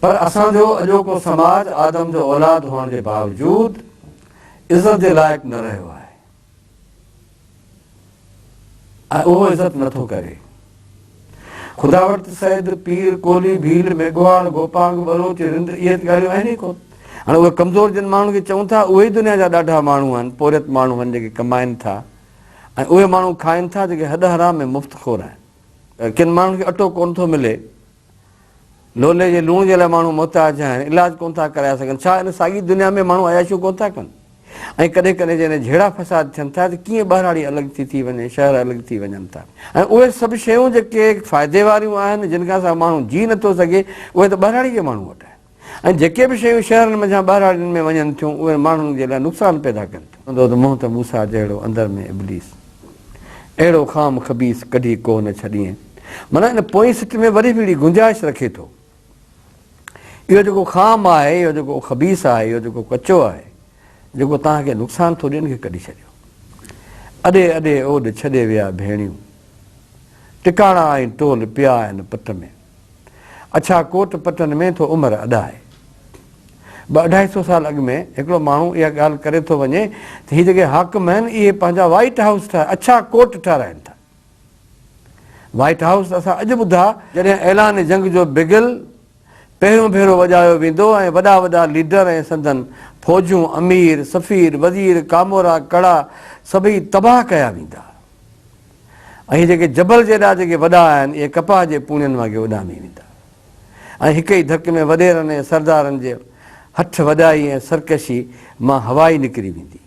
پر اسان جو اڄوڪو سماج آدم جو اولاد هئڻ جي باوجود عزت جي لائق نه رهيو آهي ۽ اهو عزت نه ٿو ڪري. خدا وٽ سيد، پير، ڪولهي، ڀيل، ميگهواڙ، گوپانگ، ٻلوچ، رند اهي ته ڳالهيون آهن ئي ڪو. هاڻي اهي ڪمزور جن ماڻهن کي چئون ٿا اهي ئي دنيا جا ڏاڍا ماڻهو آهن، پورهيت ماڻهو آهن جيڪي ڪمائين ٿا ۽ اهي ماڻهو کائين ٿا جيڪي هڏ حرام ۽ مفت خور آهن. ڪن ماڻهن کي اٽو ڪونه ٿو ملي لولي جي لوڻ جي لاء ماڻهو محتاج آهن، علاج ڪونه ٿا ڪرائي سگهن، ڇا ان ساڳي دنيا ۾ ماڻهو عياشيون ڪونه ٿا ڪن؟ ۽ ڪڏهن ڪڏهن جڏهن جهيڙا فساد ٿين ٿا ته ڪيئن ٻهراڙي الڳ ٿي ٿي وڃي، شهر الڳ ٿي وڃن ٿا ۽ اهي سڀ شيون جيڪي فائدي واريون آهن، جن کان سواء ماڻهو جيئي نه ٿو سگهي، اهي ته ٻهراڙي جي ماڻهو وٽ آهن. ۽ جيڪي به شيون شهرن منجهان ٻهراڙين ۾ وڃن ٿيون اهي ماڻهن جي لاء نقصان پيدا ڪن ٿيون. هوندو ته منهن ته موسيٰ جهڙو اندر ۾ ابليس اهڙو خام خبيث ڪڍي ڪو نه ڇڏيئين معنيٰ ان پوئين سٽ ۾ وري به اهڙي گنجائش رکي ٿو اهو جيڪو خام آهي اهو جيڪو خبيث آهي اهو جيڪو ڪچو آهي جيڪو توهان کي نقصان ٿو ڏي ان کي ڪڍي ڇڏيو اڏي اڏي اوڏ ڇڏي ويا ڀيڻيون ٽڪاڻا آهن ٽول پيا آهن پٽ ۾. اڇا ڪوٽ پتن ۾ ٿو عمر اڏائي. ٻه اڍائي سو سال اڳ ۾ هڪڙو ماڻهو اها ڳالهه ڪري ٿو وڃي ته هي جيڪي حاڪم آهن اهي پنهنجا وائيٽ هائوس ٺاهي اڇا ڪوٽ ٺهرائين ٿا. وائيٽ هائوس ته اسان اڄ ٻڌا. جڏهن اعلان جنگ جو بگل پهريون ڀيرو وڄايو ويندو ۽ وڏا وڏا ليڊر ۽ سندن فوجون، امير، سفير، وزير، ڪامورا، ڪڙا سڀئي تباهه ڪيا ويندا. ۽ جيڪي جبل جيڏا جيڪي وڏا آهن اهي ڪپاهه جي پونين وانگي اڏامي ويندا ۽ هڪ ئي ڌڪ ۾ وڏيرن ۽ سردارن جي هٺ وڏائي ۽ سرڪشي مان هوا ئي نڪري ويندي.